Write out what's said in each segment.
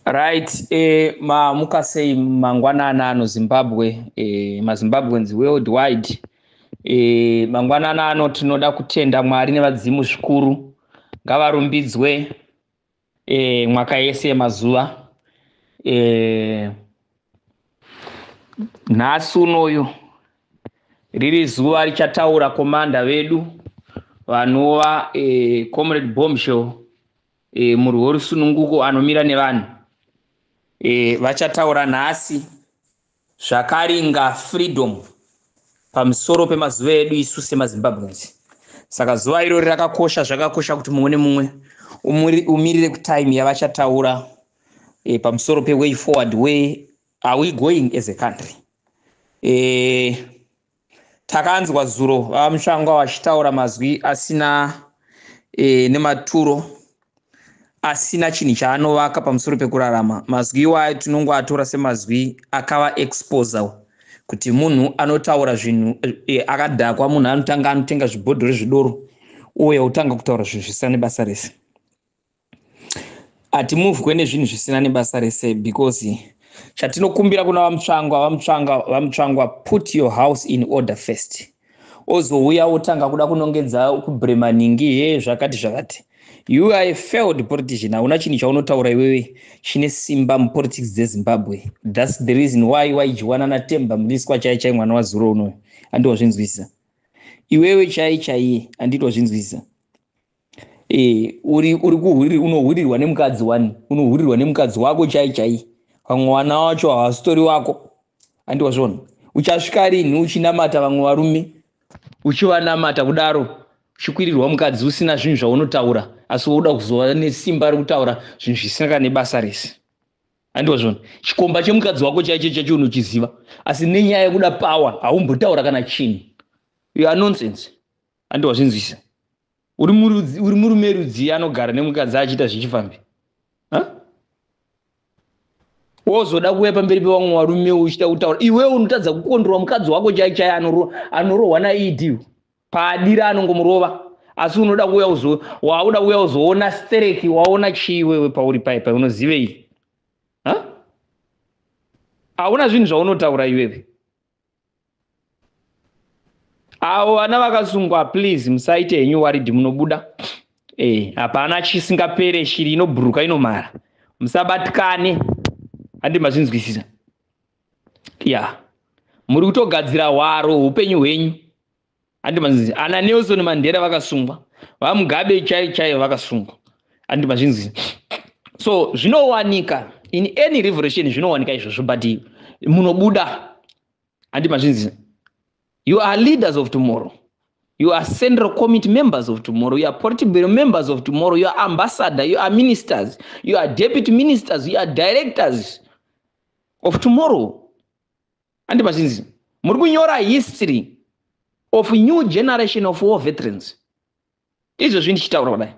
right eh, maamuka sei mangwanana ano zimbabwe eh, mazimbabweans world wide eh, mangwanana ano tinoda kutenda mwari nevadzimu zvikuru ngavarumbidzwe eh, mwaka yese yemazuva eh, nhasi unoyu riri zuva richataura komanda vedu vanova eh, comrade bombshell e, murwi worusununguko anomira nevanhu e, vachataura nhasi zvakaringa freedom pamusoro pemazuva edu isu semazimbabweans saka zuva irori rakakosha zvakakosha kuti mumwe nemumwe umirire kutime yavachataura e, pamusoro peway forward way are we going as a country e, Takanzwa zuro vaMushangwa vachitaura mazwi asina e, nematuro asina chinhu chaanovaka pamusoro pekurarama. Mazwi iwayo tinongoatora semazwi akava exposer kuti munhu anotaura zvinhu e, akadhakwa, munhu anotanga anotenga zvibhodhoro zvedoro uye otanga kutaura zvinhu zvisina nebasa rese. hatimuvwe nezvinhu zvisina nebasa rese because chatinokumbira kuna vamutsvangwa vamutsvanga vamutsvangwa put your house in order first ozouya wotanga kuda kunongedza kubremanhingi he zvakati zvakati you are a failed politician hauna chinhu chaunotaura iwewe chine simba mupolitics dzezimbabwe thats the reason why waijiwana natemba muliswa chai chai mwana wazuro unoyo andiwazvinzwisisa iwewe chai chaiye anditwazvinzwisisa Eh, uri uri kuhuri unohurirwa nemukadzi wani unohurirwa nemukadzi wako chai chai vamwe wana wacho hawasitori wako andi wazviona uchasvika rinhi uchinamata vamwe varume uchivanamata kudaro uchikwirirwa mukadzi usina zvinhu zvaunotaura asi wauda kuzova nesimba rekutaura zvinhu zvisina kana nebasa rese andi wazviona chikomba chemukadzi wako chaicho chacho unochiziva asi nenyaya yekuda pawa haumbotaura kana chinhu you are nonsense andi wazvinzwisisa uri murudzi uri murume rudzii anogara nemukadzi achiita zvechifambi wozoda kuuya pamberi pevamwe varume uchita kutaura iwewe unotadza kukondorwa mukadzi wako chai chai anorohwa naed paadira anongomurova asi unoda kuuya uzo wauda kuuya uzoona stereki waona chii wewe pauri paipa unozivei hauna zvinhu zvaunotaura iwewe avo vana vakasungwa please musaite henyu waridhi munobuda eh, hapana chisingapere shiri inobhuruka inomara musabatikane handi mazvinzwisisa ya muri kutogadzira hwaro upenyu hwenyu handi mazvinzi ana nelson mandera vakasungwa vamugabe chai chai vakasungwa handi mazvinzi so zvinowanika in any revolution zvinowanika izvozvo but munobuda handi mazvinzi you are leaders of tomorrow you are central committee members of tomorrow you are political members of tomorrow you are ambassador you are ministers you are deputy ministers you are directors of tomorrow handi vazhinji muri kunyora history of new generation of war veterans izvozvi ndichitaura kudai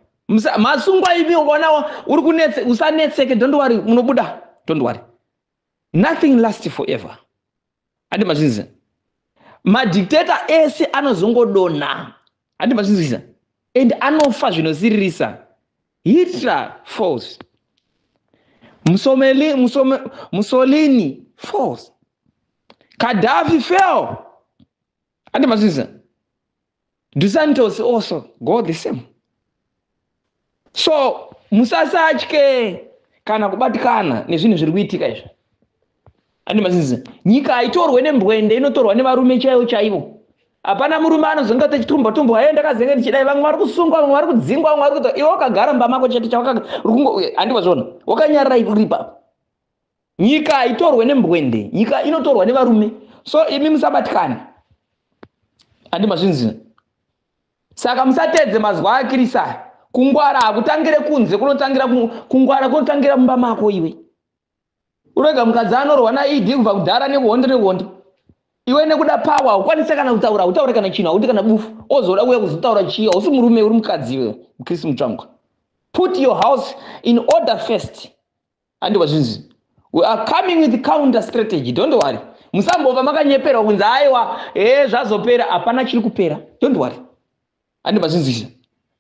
masungwa ivi ukaonawo uri kunetse usanetseke don't worry munobuda don't worry nothing last forever handi mazvinzisa madictator ese anozongodonha handi mazvinzisa and anofa zvinosiririsa Hitler false. Musomeli, musome, Mussolini false. Gaddafi fell. Ati mazviza. Dusantos also go the same. So musasatye kana kubatikana nezvinhu zviri kuitika izvi. ane mazizi nyika haitorwe nembwende inotorwa nevarume chaivo chaivo hapana murume anozonge achitumba tumba aye ndakazenge ndichidai vamwe vari kusungwa vamwe vari kudzingwa vamwe vari kuita iwe wakagara mumba mako chete chawakandiwa zvona wakanyarira uripa nyika haitorwe nembwende nyika inotorwa nevarume so imi musabatikane handi mazvinzina saka musatedze mazuva akirisa kungwara hakutangire kunze kunotangira kungwara kunotangira mumba mako iwe Urega mukadzi anorwa na ED kubva kudhara nekuhondo nekuhondo. Iwe nekuda power haukwanise kana kutaura, hautaure kana chinhu, hauti kana bufu. Ozoda kuuya kuzotaura chiya, hausi murume uri mukadzi iwe, mukristu mutsvangwa. Put your house in order first. Andikwa zvinzi. We are coming with counter strategy, don't worry. Musambova makanyeperwa kunzi aiwa, eh zvazopera, hapana chiri kupera. Don't worry. andi mazvinzwisisa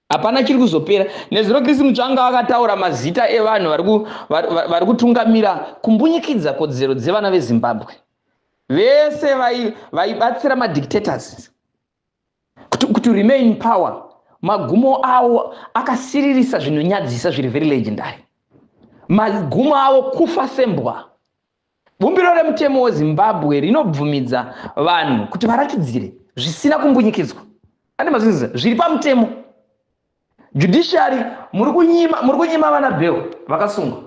hapana chiri kuzopera nezuro chris mutsvanga akataura mazita evanhu vari kutungamira kumbunyikidza kodzero dzevana vezimbabwe vese vaibatsira madictators to remain power magumo avo akasiririsa zvinonyadzisa zviri very legendary magumo avo kufa sembwa Bumbiro remutemo weZimbabwe rinobvumidza vanhu kuti varatidzire zvisina kumbunyikidzwa ane mazvinziza zviri pamutemo judiciary muri kunyima muri kunyima vana bheo vakasungwa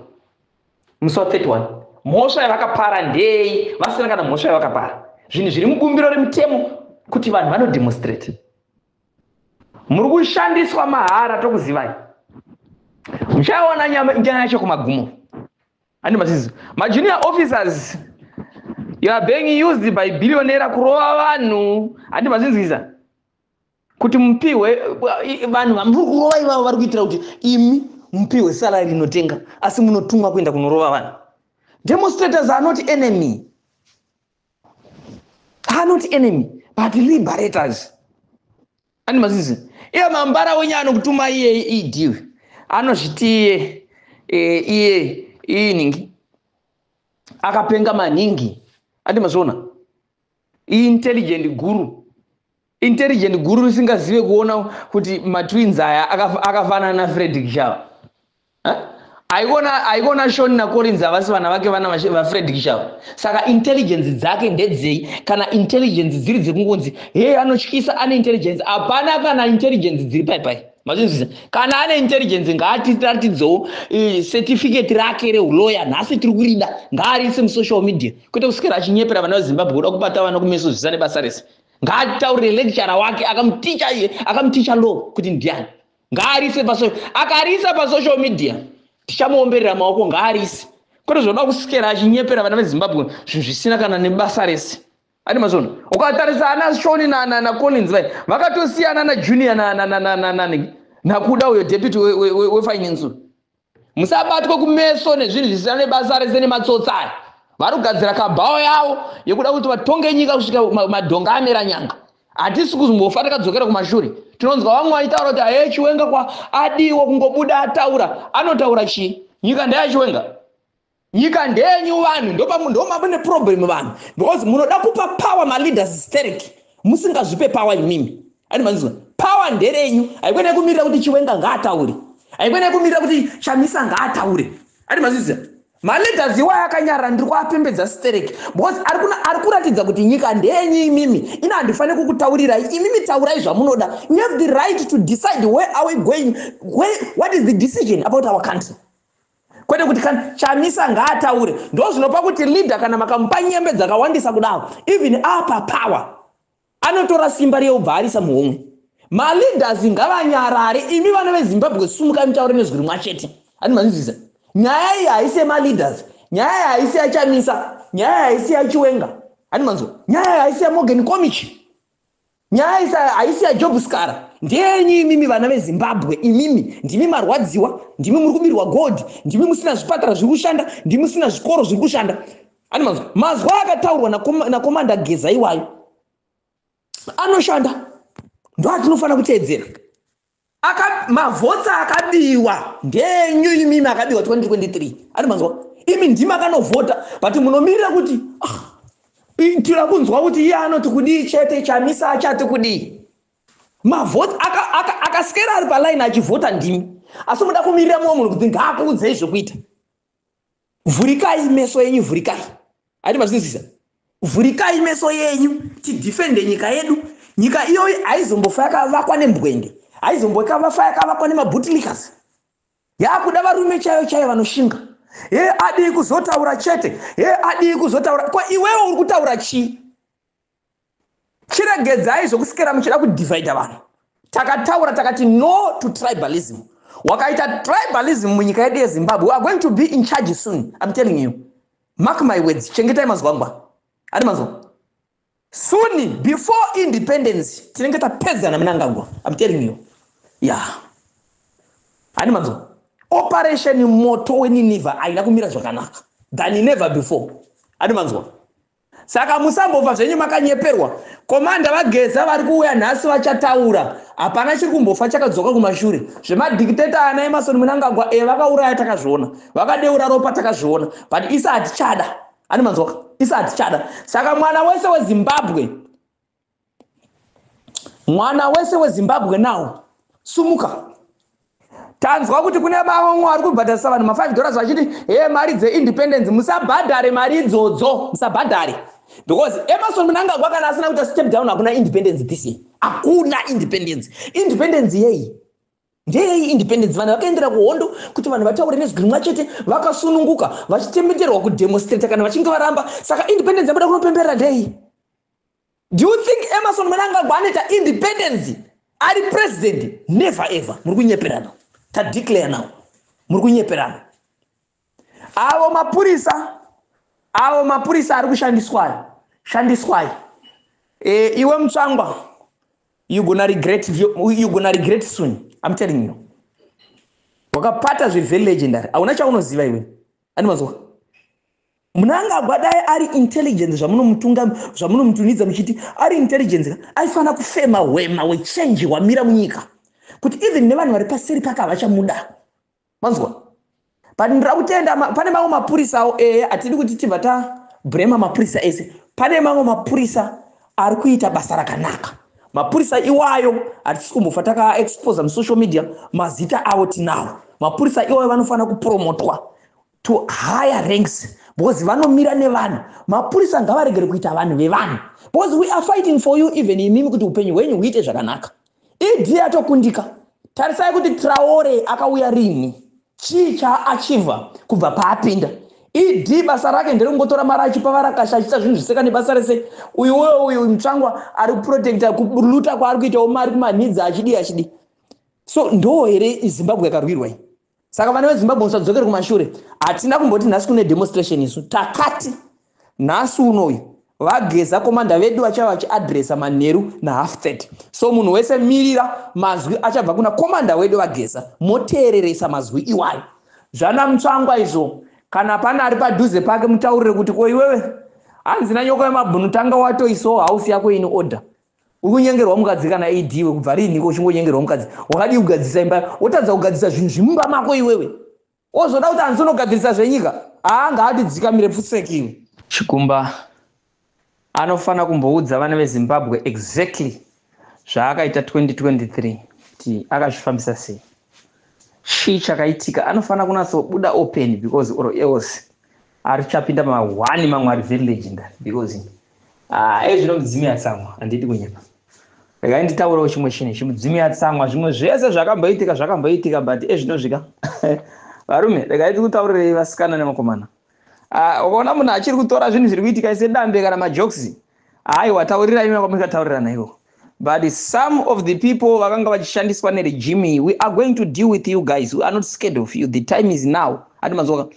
musi wa 31 mhosva yavakapara ndei vasina kana mhosva yavakapara zvinhu zviri mubumbiro remutemo kuti vanhu vanodemonstrate muri kushandiswa mahara tokuzivai muchaiona nyaya yacho kumagumo Ani masizi. Ma junior officers you are being used by billionaire kurova vanhu. Ani mazinzisa. Kuti mupihwe vanhu vamuri kurova ivavo vari kuitira kuti imi mupihwe salary inotenga asi munotumwa kuenda kunorova vanhu. Demonstrators are not enemy. Are not enemy but liberators. ani mazizi iye mambara wenye anokutuma iye idiwe e anozviti iye e, iye iningi akapenga maningi andi mazviona intelligent guru intelligent guru risingazive kuona kuti matwins aya akafanana na fredrik shava aiona aiona shoni nacorinzi havasi vana vake vana vafred kishava saka intelligence dzake ndedzei kana intelligence dziri dzekungonzi hee anotyisa ane intelligence hapana kana intelligence dziri pai pai mazvinzwisa kana ane intelligence ngaatiratidzewo eh, certificate rake reuloya nhasi tiri kurida ngaariise musocial media kwete kuswera achinyepera vana vezimbabwe kuda kubata vana kumeso zvisane basa rese ngaataurire lecturer wake akamuticha iye akamuticha law kuti ndiani ngaarise pasocial akarisa pasocial media tichamuomberera maoko ngaarise kwete zvinoda kusikera achinyepera vana vezimbabwe zvinhu zvisina kana nebasa rese ati mazvona ukatarisa ana shoni nacollins vai vakatosiyana najunior nakuda uyo deputy wefinance musabatwe kumeso nezvinhu zvisina nebasa rese nematsotsi aya vari kugadzira kabhawa yavo yekuda kuti vatonge nyika kusvika madhonga amera nyanga hatisi kuzombofa takadzokera kumashure tinonzwa vamwe vaitaura kuti aye chiwenga kwa adiwo kungobuda ataura anotaura chii nyika ndeyachiwenga nyika ndenyu vanhu ndomune problem vanhu because munoda kupa power maleaders sterek musingazvipe power imimi ani manzwa power nderenyu haikona yekumirira kuti chiwenga ngaataure haikona yekumirira kuti chamisa ngaataure ani mazvizia maleaders iwayo akanyarara ndiri kuapembedza sterek because ari kuratidza kuti nyika ndenyu imimi ina handifanire kukutaurirai imimi taurai zvamunoda you have the right to decide where are we going where, what is the decision about our country kwete kuti kana chamisa ngaataure ndo zvinopa kuti leader kana makamupa nyembe dzakawandisa kudaro even apa power anotora simba riye ubva arisa muhomwe maleaders ngavanyarare imi vana vezimbabwe sumuka mitaure nezwi rimwa chete ani manzwiza nyaya iyi haisi yemaleaders nyaya iyi haisi yachamisa nyaya iyi haisi yachiwenga ani manzwa nyaya iyi haisi yamogen comichi Nyaya isa haisi ya Job Skara. Ndeyenyu imimi vana veZimbabwe imimi ndimi marwadziwa ndimi muri kubirwa gold ndimi musina zvipatara zviri kushanda ndimi musina zvikoro zviri kushanda ani mazwi mazwi akataurwa nakomanda na geza iwayo anoshanda ndoatinofanira kuteedzera Aka, mavhotsi akabiwa ngenyu imimi akabiwa 2023 ari manzwa imi ndimi akanovhota but munomirira kuti ah, tira kunzwa kuti iye anoti kudii chete chamisa achati kudii mavhoti akasikera ari paline achivhota ndimi asi muda kumirira mumwe munhu kuti ngaakuudzei zvekuita vhurikai meso yenyu vhurikai ati mazvinzwisa vhurikai meso yenyu tidhifende nyika yedu nyika iyoyi haizombofa yakavakwa nembwende haizombokavafa yakavakwa nemabhutilikas yaakuda varume chaiyo chaiyo vanoshinga he adii kuzotaura chete he adii kuzotaura ko iwewo uri kutaura chii chiregedzai zvokuswera muchida kudivhaidha vanhu takataura takati no to tribalism wakaita tribalism munyika yedu yezimbabwe weare going to be in charge soon im telling you mark my words chengetai mazwangwa ati mazwa suni before independence tinenge tapedzana munangagwa im telling you ya ati mazwa operation moto weninevha aina kumira zvakanaka than never before ati mazwa Saka musambofa zvenyu makanyeperwa. Komanda vageza vari kuuya nhasi vachataura. Hapana chiri kumbofa chakadzoka kumashure. Zvemadictator ana Emerson Mnangagwa e eh, vakauraya takazviona. Vakadeura ropa takazviona. But isa hatichada. Ani manzwaka. Isa hatichada. Saka mwana wese weZimbabwe mwana wese wezimbabwe now sumuka tanzwa kuti kune vamwe vari kubhadharisa vanhu ma5 dollars vachiti he mari dzeindependence musabhadhare mari idzodzo musabhadhare because emerson munangagwa kana asina kuita step down hakuna independence this year hakuna independence independence yei Ndeyei independence? Vanhu vakaendera kuhondo kuti vanhu vataure nezwi rimwe chete, vakasununguka vachitemeterwa kudemonstrata kana vachinge varamba. Saka independence yabuda kunopemberera ndeyei? Do you think Emerson Mnangagwa anoita independence ari president? Never ever. Muri kunyeperana. Tadeclare now. Muri kunyeperana. avo mapurisa avo mapurisa ari kushandiswai shandiswai e, iwe mutsvangwa you gonna regret you gonna regret soon i'm telling you wakapata zvevery legendary hauna chaunoziva iwe ani mazuva munangagwa dai ari intelligence zvamunomutunga zvamunomutunidza muchiti ari intelligence aifanira kufema hwema wechange hwamira munyika kuti even nevanhu vari paseri pake havachamuda manzwa but ndira kutenda pane mamwe mapurisawo eya hatidi kuti tibva tabrema mapurisa ese pane mamwe mapurisa ari kuita basa rakanaka mapurisa iwayo hatisi kumbofa takaexposa musocial media mazita avo tinawo mapurisa iwayo vanofanira kupromotwa to higher ranks because vanomira nevanhu mapurisa ngavaregere kuita vanhu vevanhu because we are fighting for you even imimi kuti upenyu hwenyu huite zvakanaka ED yatokundika. Tarisai kuti Traore akauya rini? Chii chaachiva kubva paapinda? ED basa rake nderekungotora mari achipa varakasha achiita zvinhu zviseka nebasa rese. Uyu uyo uyu mutsvangwa ari kuprotecta kuluta kwaari kuitawo mari kumanhidzi achidi achidi. So ndoo here Zimbabwe yakarwirwa iyi? saka vana vezimbabwe musadzokere kumashure hatina kumboti nhasi kune demonstration isu takati nhasi unoyu vageza komanda vedu vachava vachiadresa manheru nahalf 30 so munhu wese mirira mazwi achabva kuna komanda wedu vageza moteereresa mazwi iwayo zvana mutsvangwa izvo kana pane ari padhuze pake mutaurire kuti ko iwewe hanzi nanyoko yemabhunu tanga watoisawo hausi yako ini order uri kunyengerwa mukadzi kana ad iwe kubva riiniko uchingonyengerwa mukadzi wakadii kugadzirisa imba wotadza kugadzirisa zvinhu zvimumba mako iwewe wozoda kuti hanzi unogadzirisa zvenyika haa ngaatidzikamire pfuseki iwe chikumba anofanira kumboudza vana vezimbabwe exactly zvaakaita 2023 kuti akazvifambisa sei chii chakaitika anofanira kunatsobuda open because or else arichapinda ma one mamwe ari very legendary because ah, ezvino mudzimu yatsamwa handidi kunyepa regai nditaurawo chimwe chinhu ichi mudzimu yatsamwa zvimwe zvese zvakamboitika zvakamboitika but ezvinosvika varume regai tikutaurirei vasikana nemakomana ah, ukaona munhu achiri kutora zvinhu zviri kuitika sedambe kana majoksi aiwa taurirai imwe kwamakataurirana iwo but some of the people vakanga vachishandiswa neregime iyi we are going to deal with you guys we are not scared of you the time is now ati mazoka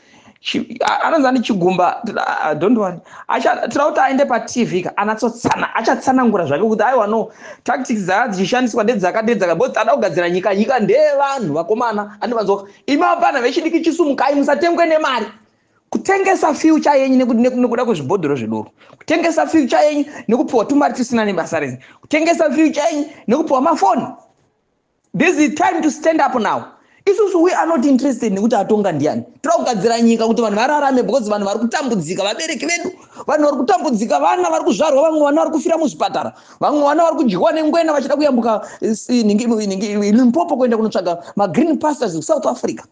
anonzi ane chigumba don't worry tira kuti aende patv ka anatsotsana achatsanangura zvake kuti aiwa no tactics dzaa dzichishandiswa ndedzaka ndedzaka bo tada kugadzira nyika nyika ndeyevanhu vakomana ati mazoka imi vapana vechidiki chisumukai musatengwe nemari kutengesa future yenyu nekuda kwezvibhodhoro zvedoro kutengesa future yenyu nekupiwa tumari tusina nebasa renyu kutengesa future yenyu nekupiwa mafoni this is time to stand up now isusu we are not interested nekuti atonga ndiani toda kugadzira nyika kuti vanhu vararame because vanhu vari kutambudzika vabereki vedu vanhu vari kutambudzika vana vari kuzvarwa vamwe vana vari kufira muzvipatara vamwe vana vari kudyiwa nengwena vachida kuyambuka eh, limpopo kuenda kunotsvaga magreen pastors kusouth africa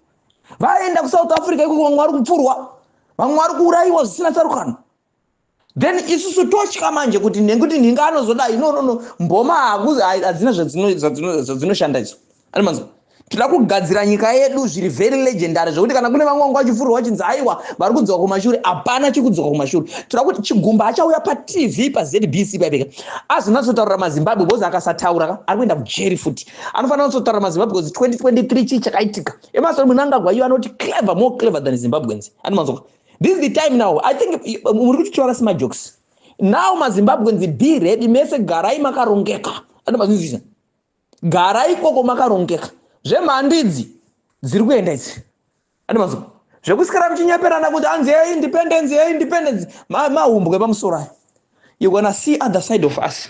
vaenda kusouth africa ikoko vamwe vari kupfurwa vamwe vari kuurayiwa zvisina tsarukano then isusu totya manje kuti nekuti nhinga anozodai no no no mboma hadzina zvadzinoshanda idzo ani manzwa tinoda kugadzira nyika yedu zviri very legendary zvekuti kana kune vamwe vanga vachifurwa vachinzi aiwa vari kudzoka kumashure hapana chikudzoka kumashure tinoda kuti chigumba achauya patv pazbc paipeka azonatsotaurira mazimbabwe bcause akasataura ka ari kuenda kujeri futi anofanira kuzotaura mazimbabwe because 2023 chii chakaitika emasori munangagwa iyo anoti clever more clever than zimbabweans anomanzwa this is the time now i think muri kuti tiwaka semajokes now mazimbabweans be ready mese garai makarongeka anomanzwisisa garai ikoko makarongeka zvemhando idzi dziri kuenda idzi anomanzwa zvekusikara muchinyeperana kuti hanzi ye independence ye independence mahumbwe pamusoro ayo you gonna see other side of us